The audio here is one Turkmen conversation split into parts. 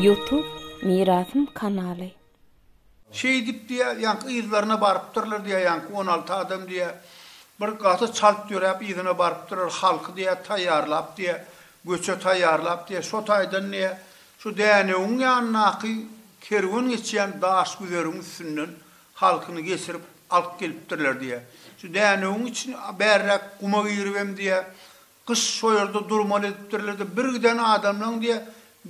Youtube Mirasym kanaly. Şeýdip diýýär, ýaňky yzlaryna barypdyrlar diýýär, ýaňky on alty adam diýýär. Bir gaty çalt ýöräp yzyna barypdyrlar, halky diýýär taýýarlap diýýär, göçe taýýarlap diýýär. Şo taýdan diýýär, şu Dänewiň ýanyndaky kerwen geçýän Daşgüzeriň üstünden halkyny geçirip alyp gelipdirler diýýä. Şu dänewiň içini bärräk guma giribem diýýä, gyş şo ýerde durmaly edipdirler-de, bir giden adamlaň diýýä,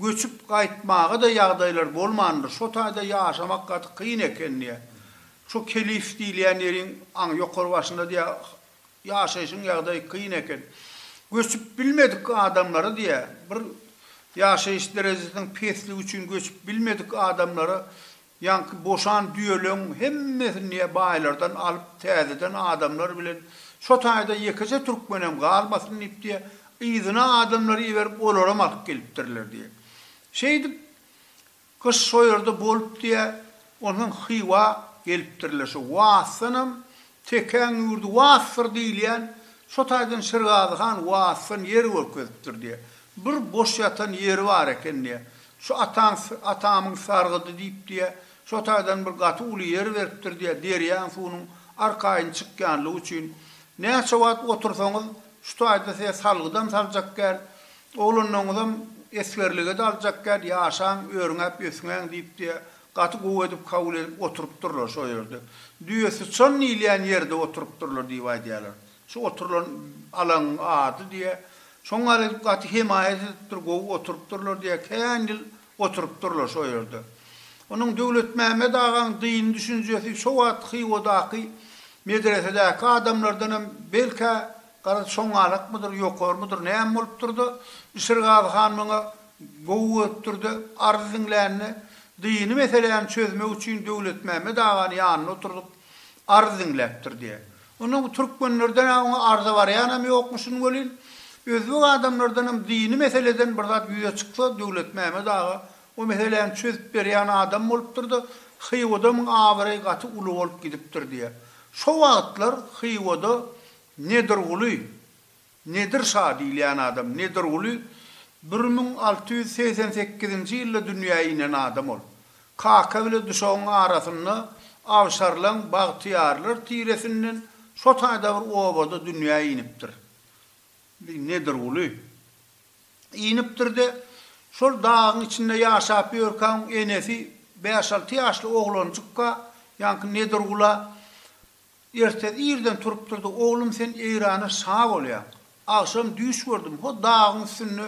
göçüp gaýtmaga-da ýagdaýlary bolmandyr, şo taýda ýaşamak gaty kyn eken diýýä. Şo Kelif diýilýän ýeriň aň ýokary başynda diýýä, ýaşaýşyň ýagdaýy kyn eken. Göçüp bilmedik adamlara diýýä, bir ýaşaýyş derejesiniň pesligi üçin göçüp bilmedik adamlara Ýaňky boşan düýeleň hemmesini niýe baýlardan alyp täzeden adamlar bilen şo taýda ýekeje türkmenem galmasyn diýip diýe yzyna adamlary iberip olaram alyp gelipdirler diýe. Şeýdip gyş şo ýerde bolup diýe onsoň Hywa gelipdirler şo wagtdanam Tekäň ýurdy Waspdyr diýilýän, şo taýdan Şirgazy han Waspdan ýer görkezipdir diýýär. Bir boş ýatan ýeri bar eken diýýär. Şu ataň, atamyň sargydy diýip diýýär. Şo taýdan bir gaty uly ýer beripdir diýýär, derýaň suwunyň arkaýyn çykýanlygy üçin. Näçe wagt otursaňyz, şu taýda size salgydam saljak däl, oglanlaryňyzam esgerlige-de aljak däl, ýaşaň, örňäp ösňäň diýip diýýär. Gaty gowy edip kabul edip oturypdyrlar şo ýerde. Düýe syçan diýilýän ýerde oturypdyrlar diýip aýdýarlar. Şu oturylan alaňyň ady diýýär. Şoňa edip gaty hemaýat edipdir, gowy oturypdyrlar diýýär. Kän ýyl oturypdyrlar şo ýerde. Onuň Döwletmämmet agaň dyn düşünjesi şo wagt Hywadaky medresedäki adamlardan hem belkä garaz çoňňalakmydyr, ýokarmydyr näme bolupdyr-da, Işirgazy han muňa Gowy görüpdir-de, arz diňlände, dyny meseläni çözmek üçin Döwletmämmet agany ýanyna oturdyp, arz diňläpdir diýýär. Onda bu türkmenlerden-ä oňa arza barýanam ýokmuşyn welin, özbek adamlardanam dyny meseleden bir zat ýüze çyksa, Döwletmämmet aga o meseläni çözüp berýän adam bolupdyr-da, Hywadamyň abraýy gaty uly bolup gidipdir diýýär. Şo wagtlar Hywada Nedirguly Nedir şa diýilýän adam Nedirguly bir müň alty ýüz segsen sekizinji ýylda dünýä inen adam ol. Kaka bile duşagyň arasynda Awşarlaň bagtyýarlar tiresinden şo taýda bir obada dünýä inipdir. Nedirguly. Inipdir-de, şol dagyň içinde ýaşap ýörkäň enesi bäş-alty ýaşly oglanjykka, ýaňky Nedirgula Ertesi irden turupdyrdy, Oglum sen Eýrana şa bolýaň. Agşam düýş gördüm, ho dagyň üstünde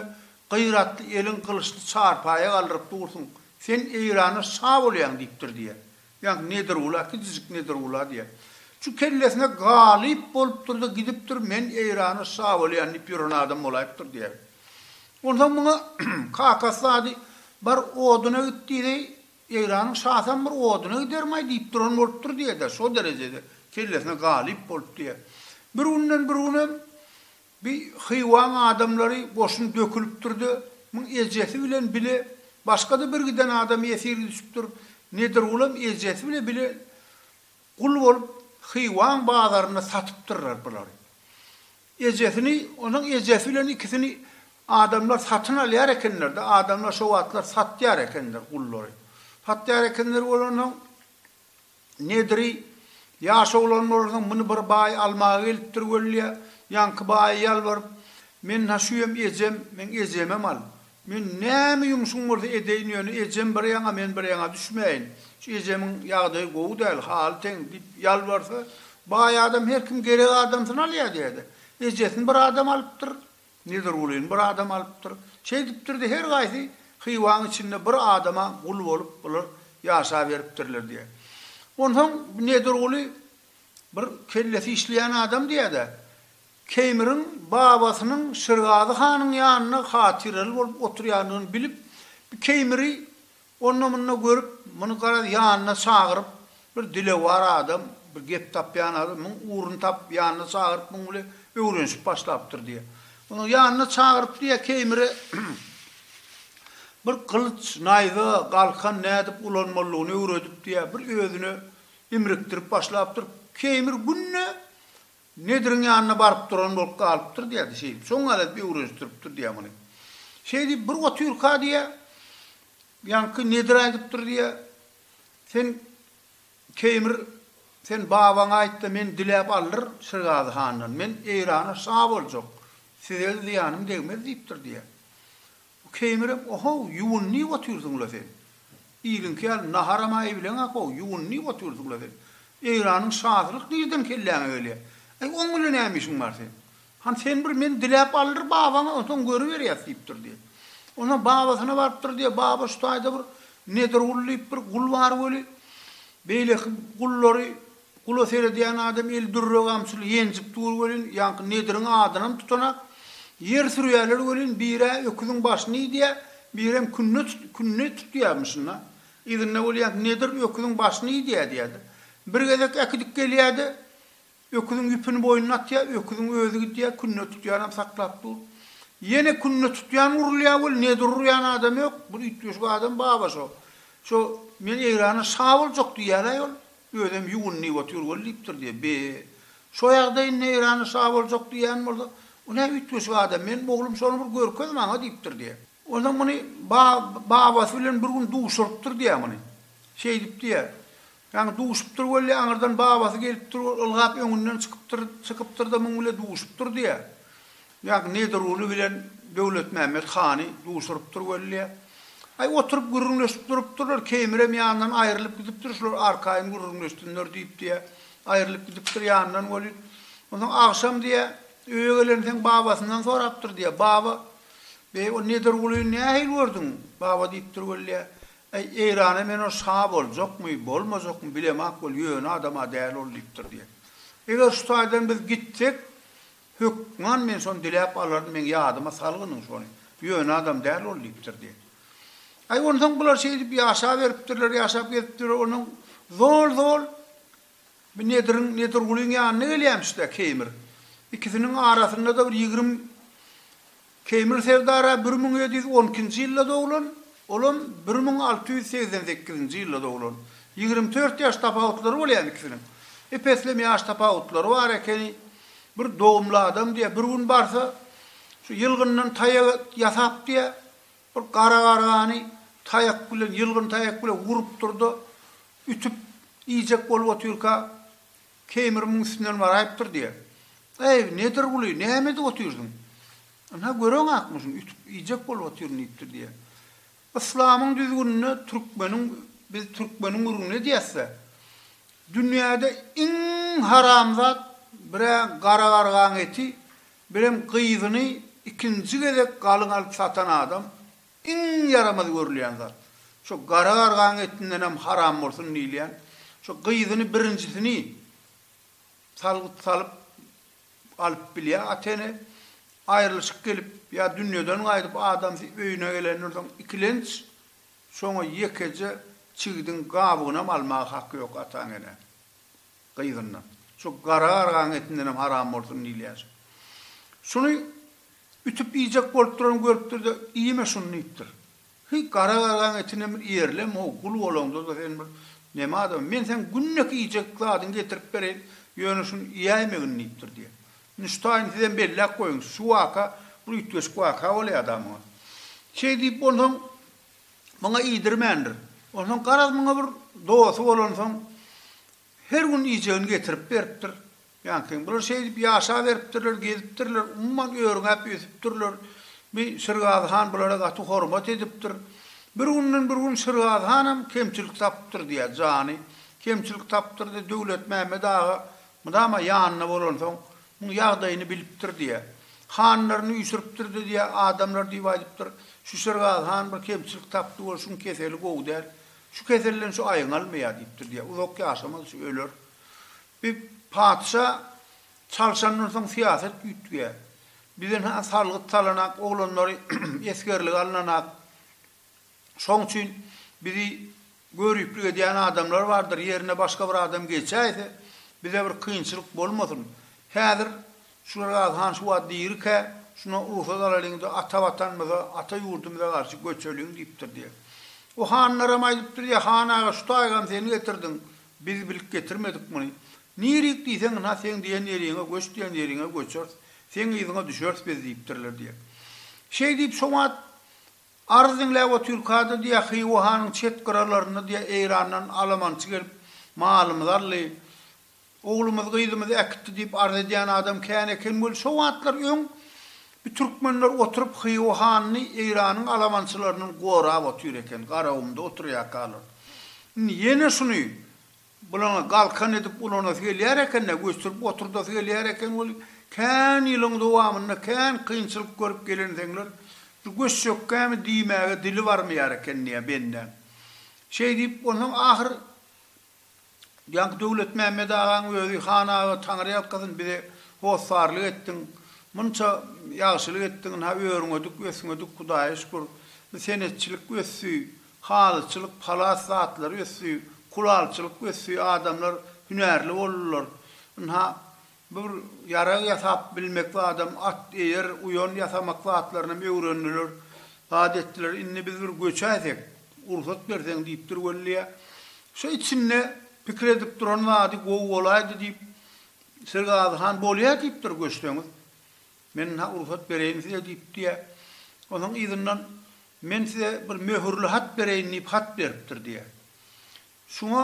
gyratly elin gylyçly çarpaýa galdyryp dursuň, sen Eýrana şa bolýaň diýipdir diýýär. Ýaňky Nedirgula, kiçijik Nedirgula diýýär. Şu kellesine galyp bolupdyr-da gidipdir, men Eýrana şa bolýan diýip ýören adam bolaýypdyr diýýär. Onsoň muňa kakasy ady, Bar oduna git diýdi, Eýranyň şasam bir oduna gidermaý diýip duran bolupdyr diýedä, şo derejede kellesine galyp bolup diýä. Bir günden bir günem bi Hywaň adamlary goşun dökülipdirde, muň ejesi bilen bile başga-da bir giden adam ýesir düşüpdir. Nedirgulam ejesi bile bile Gul bolup Hywaň bazarynda satypdyrlar bulary. Ejesini, onuň ejesi bilen ikisini adamlar satyn alýar ekenler-de, adamlar şo wagtlar satýar ekenler gullary. Satýar ekenler bolansoň, Nediri, ýaş oglan bolansoň, muny bir baý almaga gelipdir wellä, ýaňky baýa ýalbaryp, Men-hä şu hem ejem, meň ejemem al. Men näme ýumşum bolsa edeýin ýöne ejem bir ýaňa men bir ýaňa düşmäýin. Şu ejemiň ýagdaýy gowy däl, haly teň diýip ýalbarsa, baý adam her kim gerek adamsyny alýar diýýärdi. Ejesini bir adam alypdyr, Nedirgulyny bir adam alypdyr. Şeýdipdir-de her gaýsy Hywaň içinde bir adama gul bolup bular ýaşaberipdirler diýýär. Onsoň Nedirguly bir kellesi işleýän adam diýýär-de, Keýmiriň babasynyň Şirgazy hanyň ýanynda hatyraly bolup oturýandygyny bilip, bu Keýmiri onda-munda görüp, muny garaz ýanyna çagyryp, bir dilewar adam, bir gep tapýan adam, muň ugruny tapyp, ýanyna çagyryp, muň bile öwrenişip başlapdyr diýýär. Muny ýanyna çagyryp diýýär, Keýmire bir gylyç, naýza, galkan nädip ulanmalydygyny öwredip diýýär, bir özüne imrikdirip başlapdyr. Keýmir günde Nediriň ýanyna baryp duran bolup galypdyr diýýärdi, şeýdip, şoň aladip öwrenişdiripdir diýýär muny. Şeýdip, bir otyrka diýýär, ýaňky Nedir aýdypdyr diýýär, Sen, Keýmir, sen babaňa aýt-da, men diläp aldyr Şirgazy handan, men Eýrana şa boljak, size-de zyýanym degmez diýipdir diýýär. Bu keýmirek ohow ýuwun diýip otyrsyňla sen. Iliňki ýaly naharam-a iýleňä how ýuwun diýip otyrsyňla sen. Eýranyň şasylyk nirden kelläňe gelýär. Aý oň bilen näme işiň bar sen. Han sen bir men diläp aldyr babaňa onsoň görüberýäs diýipdir diýe. Onsoň babasyna barypdyr diýe baba şu taýda bir Nedirgul diýip bir gul bar weli beýleki gullary Gula seredýän adam eli dürre gamçyly ýenjip dur welin, ýaňky Nediriň adynam tutanak. Ýer sürýärler welin, bir-ä öküziň başyny iýdýä, birem künne künne tutýamyşyn-a. Yzynda bolýanky Nedir öküziň başyny iýdýä diýýärdi. Bir gezek äkidip gelýärdi. Öküziň ýüpüni boýnuna atýa, öküziň özi gidýä, künne tutýanam saklap dur. Ýene künne tutýan urulýa weli, Nedir urýan adam ýok. Bir üýtgeşik adam baba şo. Şo, Men Eýrana şa boljak diýýär-aý ol. Özem ýuwunyp otyr weli diýipdir diýe. Be, şo ýagdaý indi Eýranda şa boljak diýýän bolsa, bu nä üýtgeşik adam, meniň oglum şony bir görkez maňa diýipdir diýe. Onsoň muny ba-babasy bilen bir gün duşurypdyr diýe muny. Şeýdip diýe. Ýagny duşupdyr weli aňyrdan babasy gelipdir, ol ylgap öňünden çykypdyr, çykypdyr-da muň bile duşupdyr diýe. Ýag Nedirguly bilen Döwletmämmet hany duşurypdyr welle. Aý, oturyp gürrüňleşip durupdyrlar, Keýmirem ýanyndan aýrylyp gidipdir, şular arkaýyn gürrüňleşsinler diýip diýä, aýrylyp gidipdir ýanyndan weli. Onsoň agşam diýä, öýe gelensoň babasyndan sorapdyr diýä, Baba, beý, o Nedirgulyny nähili gördüň? Baba diýipdir welle, Äý, Eýrana men ol şa boljakmy, bolmajakmy bilemok weli, ýöne adam-a däl ol diýipdir diýä. Eger şu taýdan biz gitsek, Hökman men şony diläp alaryn, meň ýadyma salgynyň şony. Ýöne adam däl ol, diýipdir diýen. Aý, onsoň bular şeýdip ýaşaberipdirler, ýaşap gezipdirler, onsoň zol-zol bir Nediriň, Nedirgulyň ýanyna gelýämiş-de Keýmir. Ikisiniň arasynda-da bir ýigrimi Keýmil Serdara bir müň ýedi ýüz on ikinji ýylda doglan, olam bir müň alty ýüz segsen sekizinji ýylda doglan. Ýigrimi dört ýaş tapawutlary bolýan ikisiniň. Ep-eslem ýaş tapawutlary bar ekeni. Bir dogumly adam diýýär, bir gün barsa, şu ýylgyndan taýak ýasap diýýär, bir gara gargany taýak bilen, ýylgyn taýak bilen urupdyr-da, ütüp iýjek bolup otyrka, Keýmir muň üstünden baraýypdyr diýýä. Eý, Nedirguly, näme edip otyrsyň? Ynha, göreň akmyşyny ütüp, iýjek bolup otyryn diýipdir diýýä. Yslamyň düzgüninde türkmeniň, biz türkmeniň gürrüňini edýäs-de, dünýäde iň haramzat bir-ä gara gargaň eti, birem gyzyny ikinji gezek galyň alyp satan adam, Iň ýaramaz görülýän zat, şo gara gargaň etindenem haram bolsun diýilýän, şo gyzyny birinjisini salgyt salyp alyp bilýär ata-ene, aýrylyşyk gelip ýa dünýeden gaýdyp adamsy öýüne gelendir soň ikilenç, şoňa ýekeje çigdiň gabygynam almaga haky ýok ataň-eneň. gyzyndan. Şu gara gargaň etindenem haram bolsun diýilýär. Şuny ütüp iýjek bolup duran görüpdir-de, Iýme şuny diýipdir. Heý, gara gargaň etinem bir iýerlem-ow, gul bolaňda-da sen bir näme adam, men seň günde-ki iýjek zadyňy getirip bereýin, ýöne şuny iýäýmegin diýipdir diýýär. Nüştaýyny sizem belläp goýuň, şu waka bir üýtgeşik waka bolýar-da muňa. Şeý diýip onsoň. muňa iýdirmändir. Onsoň garaz muňa bir dosty bolansoň, her gün iýjegini getirip beripdir. Ýaňky bular şeýdip ýaşaberipdirler, gezipdirler, umuman örňäp ösüpdirler. Bi Şirgazy han bulara gaty hormat edipdir. Bir günden bir gün Şirgazy hanam kemçilik tapypdyr diýýär, jany kemçilik tapypdyr-da, Döwletmämmet aga mydama ýanynda bolansoň, Muň ýagdaýyny bilipdir diýýä. Hanlaryny üýşüripdir-de diýýä, adamlar diýip aýdypdyr. Şüşergaz han bir kemçilik tapdy, ol şuň keseli gowy däl. Şu keselden şu aýňalmaýar diýipdir diýýä. Uzak ýaşamaz şu, öler. Bi patyşa çalşandan soň syýasat üýtgeýär. Bizden-hä salgyt salanak, oglanlary esgerlige alynanak. Şoň üçin bizi göriplik edýän adamlar bardyr, ýerine başga bir adam geçäýse, bize bir kynçylyk bolmasyn. Häzir Şulergazy han şu wagt dirikä, şuna rugsat alalyň-da, ata Watanymyza, ata ýurdumyza garşy göçeliň diýipdir diýýär. O hanlaram aýdypdyr diýýär, Han aga, şu taýygam sen getirdiň, biz bilip getirmedik muny. Nirik diýseň, ynha, seň diýen ýeriňe, göç diýen ýeriňe göçeris, seň yzyňa düşeris biz diýipdirler diýýär. Şeýdip, şo wagt Arz diňläp otyrkada diýýär, Hywa hanyň çet gyralarynda diýýär, Eýrandan alamançy gelip, malymyzy aldy. Oglumyzy, gyzymyzy äkitdi diýip arz edýän adam kän eken weli, şo wagtlar öň bi türkmenler oturyp Hywa hanyny Eýranyň alamançylaryndan gorap otyr eken, Garagumda oturýarkalar. Indi ýene şuny Bulaňa galkan edip ulanasy gelýär eken-dä, göçürip oturdasy gelýär eken weli, kän ýylyň dowamynda kän kynçylyk görüp gelenseňler, şu göçjekkämi diýmäge dili barmaýar ekeniniýä bendäň. Şeý diýip, onsoň ahyr ýaňky Döwletmämmet agaň özi, Han aga, Taňry ýalkasyn, bize hossarlyk etdiň, munça ýagşylyk etdiň, ynha, örňedik, ösňedik, Hudaýa şükür, bu senetçilik ösdi, Halyçylyk halas zatlar ösdi, kulalçylyk ösdi, adamlar hünärli boldular. Ynha, bir ýarag ýasap bilmek zadam, at, eýer, uýan ýasamak zatlarynam öwrendiler, zat etdiler. Indi biz bir göçäýsek, rugsat berseň diýipdir Weliýa. Şo içinde pikir edip duran zady, Gowy bolaýdy diýip, Sergazy han bolýa diýipdir, göçseňiz. Men-ha ursat bereýin size, diýipdi-de, onsoň yzyndan, Men size bir möhürli hat bereýin diýip hat beripdir, diýýär. Şuňa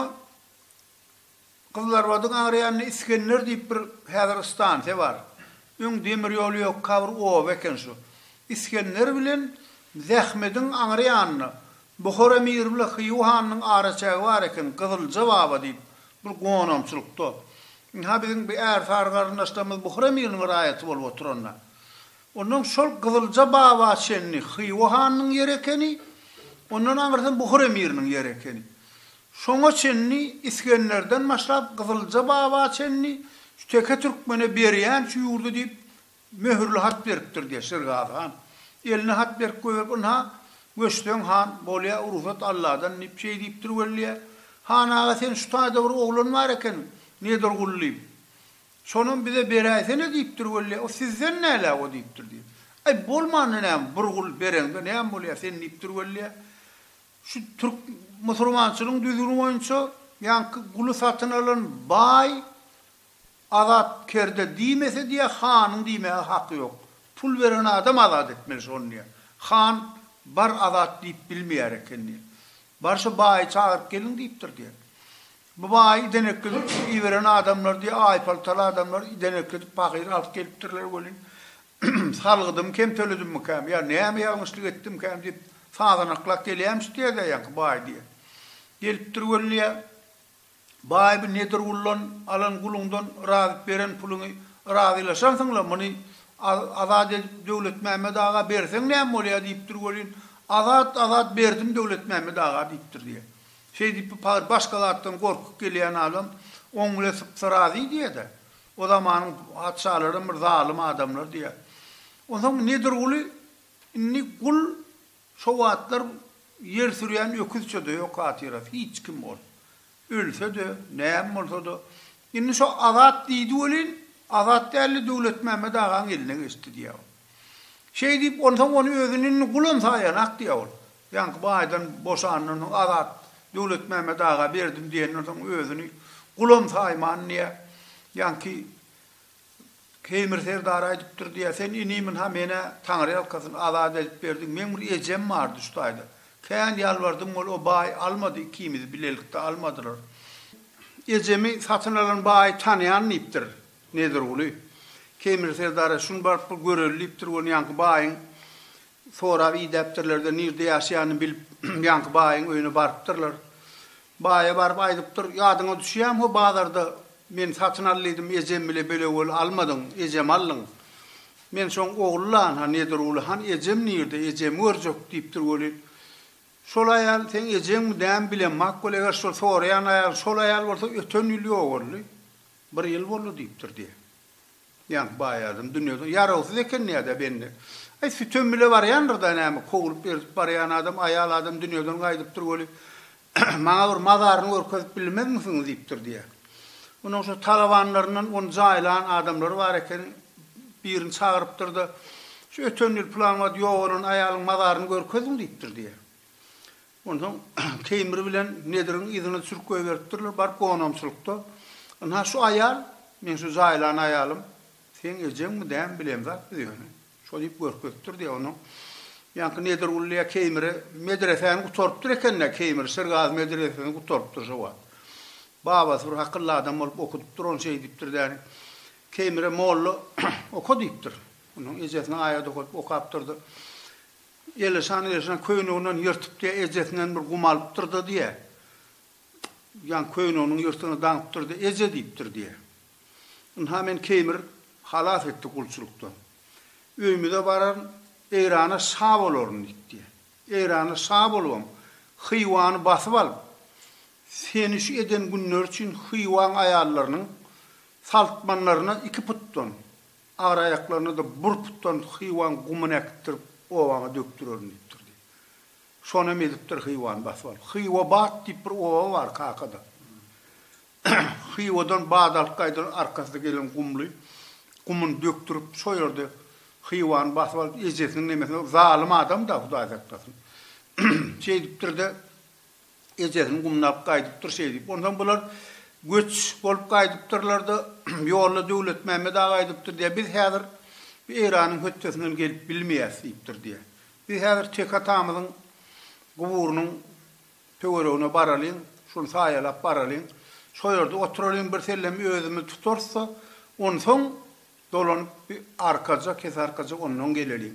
Gyzlarbadyň agryýanynda Isgender diýip bir häzir stansiýa bar. Öň demir ýoly ýokka bir oba eken şu. Isgender bilen Zähmediň aňryýanynda Buhar emiri bilen Hyýu hanynyň araçägi bar eken, Gyzylja baba diýip, bir gonamçylykda. Ynha, biziň bi ärsary garyndaşlarymyz Buhar emiriniň raýaty bolup oturanda. Ondan şol Gyzylja baba çenli Hyýu hanynyň ýeri ekeni, ondan aňyrsam Buhar emiriniň ýeri ekeni. Şoňa çenli, Isgenderden başlap, Gyzylja baba çenli şu teke türkmene berýän şu ýurdy diýip, Möhürli hat beripdir, diýýär Şirgazy han. Eline hat berip goýberip, Ynha, göçseň han, bolýa, rugsat Alladan, diýip, şeý diýipdir wellä. Han aga, sen şu taýda bir oglan bar eken, Nedirguly diýip. Şonam bize beräýsene, diýipdir wellä. O sizden näläp o, diýipdir, diýýär. Aý, bolmanda näme, bir gul bereňde näme bolýar, sen, diýipdir wellä. Şu türk musurmançylygyň düzgüni boýunça ýaňky guly satyn alan baý Azat kerde diýmese diýä hanyň diýmäge haky ýok. Pul beren adam azat etmeli şony diýä. Han bar azat diýip bilmeýär eken diýä. Bar şu baýy çagyryp geliň diýipdir diýä. Bu baýy idenekledip şu iberen adamlar diýä aýpaltaly adamlar idenekledip pahyr alyp gelipdirler welin salgydymy kem töledimmikäm ýa näme ýalňyşlyk etdimkäm diýip sazanaklap gelýämiş diýä-de ýaňky baý diýä. Gelipdir welin diýä. Baýby Nedirguldan alan guluňdan yrazyp beren puluňy yrazylaşansyň-la, muny Azat edip Döwletmämmet aga berseň näme bolýar diýipdir welin, Azat, Azat berdim Döwletmämmet aga diýipdir diýýär. Şeýdip bu pahyr başga zatdan gorkup gelýän adam oň bile sypsa razy diýýä-de. O zamanyň patyşalaram bir zalym adamlar diýýär. Onsoň Nedirguly indi gul Şo wagtlar ýer sürýän öküzçe-de ýok hatyrasy, hiç kim ol. Ölse-de, näme bolsa-da. Indi şo Azat diýdi welin, Azat däldi, Döwletmämmet agaň eline geçdi diýýär ol. Şeý diýip, onsoň ony özüni indi gulam saýanak diýýär ol. Ýaňky baýdan boşandan soň Azat Döwletmämmet aga berdim diýenden soň özüni gulam saýman diýýär. Ýaňky Keýmir serdar aýdypdyr diýýär, Sen inimin-ha men-ä, taňryýalkasyn, azat edip berdiň. Meň bir ejem bardy şu taýda. Kän ýalbardym ol, o baý almady, ikimizi bilelikde almadylar. Ejemi satyn alan baýy tanaýan diýipdir Nedirguly. Keýmir serdara, Şuny baryp bir göreli diýipdir, ony ýaňky baýyň sorap idäpdirler-de, nirde ýaşaýanyny bilip, ýaňky baýyň öýüne barypdyrlar. Baýa baryp aýdypdyr, Ýadyňa düşýämi ho bazarda men satyn al diýdim, ejem bile belewel almadyň, ejem aldyň. Men soň Ogullan-ha, Nedirguly han ejem nirde, ejemi görjek diýipdir weli, şol aýal seň ejeňmi nämi bilemok weli, eger şol soraýan aýalyň şol aýal bolsa öten ýyl ýogaldy, bir ýyl boldy diýipdir diýýä. Ýaňky baý adam dünýeden ýarawsyz eken nädä bende. Aý sütem bile barýandyrda näme kowlup erzip barýan adam aýal adam dünýeden gaýdypdyr weli maňa bir mazaryny görkezip bilmezmisiň diýipdir diýýä. Onuň şu talabanlaryndan ony jaýlan adamlary bar eken birini çagyrypdyrda şu öten ýyl pylan wagt ýogalan aýalyň mazaryny görkeziň diýipdir diýýä. Onsoň Teýmir bilen Nediriň yzyna düşürip goýberipdirler, baryp gonamçylykda, Ynha, şu aýal, meň şu jaýlan aýalym, seň ejeňmi, dämi, bileýin zat biz ýöne. Şo diýip görkezipdir diýýär. Onsoň ýaňky Nedirgully ýa Keýmiri medresäni gutarypdyr eken-dä, Keýmir, Şirgazy medresesini gutarypdyr şo wagt. Babasy bir akylly adam bolup okudypdyr ony, şeý diýipdir däni, Keýmire molla oka diýipdir. Onsoň ejesine aýat okadyp okapdyr-da, Elişan Elişan köýneginden ýyrtyp diýýär, ejesinden bir gum alypdyr-da diýýär. Ýaňky köýneginiň ýyrtygyny daňypdyr-da, Eje diýipdir diýýär. Ynha meni Keýmir halas etdi gulçulykdan. Öýümize bararyn, Eýrana şa bolaryn diýip diýýär. Eýrana şa bolubam, Hywany basyp alyp, seni şu eden günleri üçin Hywaň aýallarynyň saltmanlaryna iki putdan, Agyr-aýaklaryna-da burputdan hywan gumuny äkitdirip, obaňa dökdürerin diýipdir diýip. Şonam edipdir Hywany basyp alyp. Hywabat diýip bir oba bar kakada. Hywadan bat alyp gaýdan arkasy gelen gumly gumuny dökdürip, şo ýerde Hywany basyp alyp, ejesiniň nemesine zalym adam-da, Hudaý saklasyn. Şeýdipdir-de. Ejesini gumlap gaýdypdyr şeý diýip. Onsoň bular göç bolup gaýdypdyrlar-da, ýolda Döwletmämmet aga aýdypdyr diýýär, Biz häzir bu Eýranyň hötdesinden gelip bilmeýäs diýipdir diýýär. Biz häzir Tek atamyzyň guburynyň töweregine baralyň, şony saýalap baralyň. Şo ýerde oturalyň, birsellem özümizi tutarys-da, onsoň dolanyp bir arkaja, kesearkaja ondan geleliň.